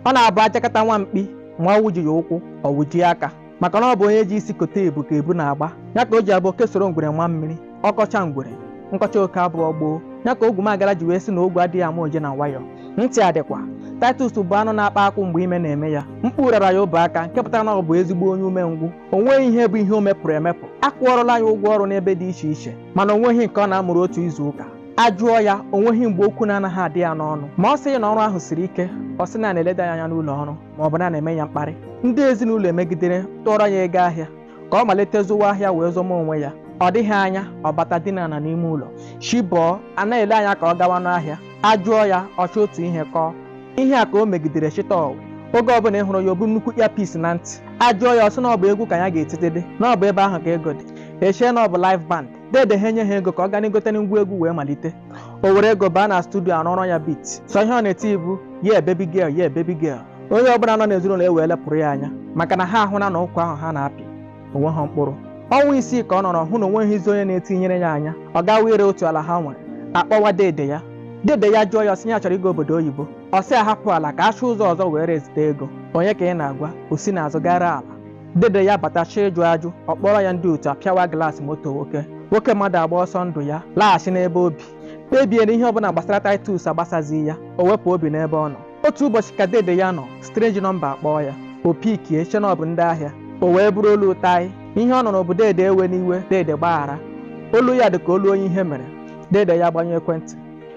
ọ na-abụ a jakata nwa mkpi ma ọ wụjighị ụkwụ ọ wụjie aka maka na ọ bụ onye ji isi kote ebu ka ebu na-agba ya ka o ji abụ oke soro ngwere maa mmiri ọ kọcha ngwere nkọcha oke abụọ gboo ya ka ogwumagara ji wee sị na ogwu adịghị ama oje na nwayọ ntị adịkwa Titus bụ anụ na-akpa akwụ mgbe ime na-eme ya mkpu rara ya ọbọ aka nke pụtara na ọ bụ ezigbo onye umengwụ o nweghị ihe bụ ihe o mepụrụ emepụ a kwụọrọla ya ụgwọ ọrụ n'ebe dị iche iche mana o nweghị nke ọ na-amụru otu izu ụka a jụọ ya o nweghị mgbe okwu na-anaghị adị ya n'ọnụ ma ọ sịghị na ọrụ ahụ siri ike ọ sị na a na-eleda ya anya n'ụlọ ọrụ ma ọ bụ na a na-eme ya mkparị ndị ezinụlọ emegidere tụọrọ ya ego ahịa ka ọ malite zụwa ahịa wee zọma onwe ya ọ dịghị anya ọ bata dinana n'ime ụlọ chi bọọ a na-ele anya ka ọ gawa n'ahịa a jụọ ya ọ chọọ otu ihe kọọ ihe a ka o megidere chịta ọwụ oge ọbụla ị hụrụ ya o bu nnukwu earpiece na ntị a jụọ ya ọ sị na ọ bụ egwu ka ya ga-etitedị na ọ bụ ebe ahụ ka ego dị e chee na ọ bụ live band dede ha enye ha ego ka ọ gana egote ngwa egwu wee malite o were ego baa na studio a rụọrọ ya beat sọ ihe ọ na-eti bụ yeah baby girl yeah baby girl onye ọbụla nọ n'ezinụlọ ewee lepụrụ ya anya maka na ha ahụla na ụkwa ahụ ha na-apị o nweghị mkpụrụ ọnwa isii ka ọ nọrọ hụ na o nweghịzi onye na-etinyere ya anya ọ gawa ire otu ala ha nwere a kpọwa dede ya dede ya ajụọ ya ọ sị ya chọrọ ịga obodo oyibo ọ sị a hapụ ala ka a chọọ ụzọ ọzọ were ezite ego onye ka ị na-agwa o si n'azụ gaa ree ala dede ya batacha ịjụ ajụ ọ kpọrọ ya ndị otu apịawa glaasị moto nwoke nwoke mmadụ agba ọsọ ndụ ya laghachi n'ebe obi kpebie na ihe ọbụla gbasara Titus agbasazighị ya o wepụ obi n'ebe ọ nọ otu ụbọchị ka dede ya nọ strange nọmba akpọọ ya o pikie chee na ọ bụ ndị ahịa o wee bụrụ olu Taị ihe ọ nụrụ bụ dede ewena iwe dede gbaghara olu ya dị ka olu onye ihe mere dede ya agbanyụọ ekwentị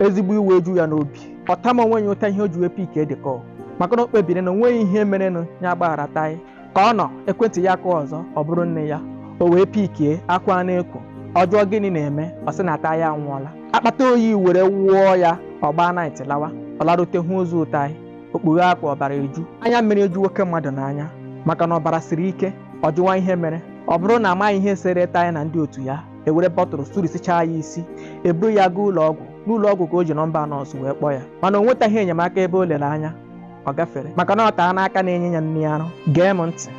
ezigbo iwe eju ya n'obi ọ tama onwe ya ụta ihe o ji wee pikie the call maka na o kpebiri na onweghị ihe merenụ ya agbaghara Taị ka ọ nọ ekwentị ya akụọ ọzọ ọ bụrụ nne ya o wee pikie akwa na-ekwo ọ jụọ gịnị na-eme ọ sị na Taị anwụọla akpata oyi ewere wụọ ya ọ gbaa night lawa ọ larute hụ ozu Taị o kpughee akwa ọbara eju anya mmiri eju nwoke mmadụ n'anya maka na ọbara siri ike ọ jụwa ihe mere ọ bụrụ na amaghị ihe sere Taị na ndị otu ya e were bọtụlụ surisichaa ya isi e buru ya gaa ụlọ ọgwụ n'ụlọ ọgwụ ka o ji nọmba nọọsụ wee kpọọ ya mana o nwetaghị enyemaka ebe o lere anya ọ gafere maka na ọ taa n'aka na-enye ya nri arụ gee m ntị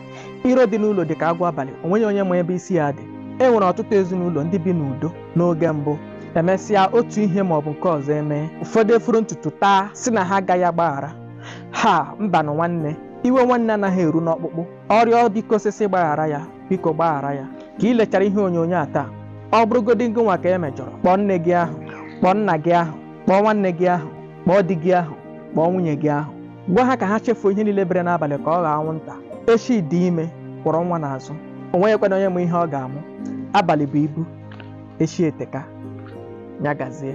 iro dị n'ụlọ dị ka agwọ abalị o nweghị onye ma ebe isi ya dị e nwere ọtụtụ ezinụlọ ndị bi n'udo n'oge mbụ emesịa otu ihe ma ọ bụ nke ọzọ emee ụfọdụ eforo ntutu taa sị na ha agaghị agbaghara ha mbanụ nwanne iwe nwanne anaghị eru n'ọkpụkpụ ọ rịọ biko ọsịsọ gbaghara ya biko gbaghara ya ka ị lechara ihe onyonyo a taa ọ bụrụgodị ngịnwa ka e mejọrọ kpọọ nne gị ahụ kpọọ nna gị ahụ kpọọ nwanne gị ahụ kpọọ di gị ahụ kpọọ nwunye gị ahụ gwa ha ka ha chefuo ihe niile bere n'abalị ka ọ ghọọ anwụnta echi dị ime kwọrọ nwa n'azụ o nweghịkwanụ onye ma ihe ọ ga-amụ abalị bụ ibu echi eteka ya gazie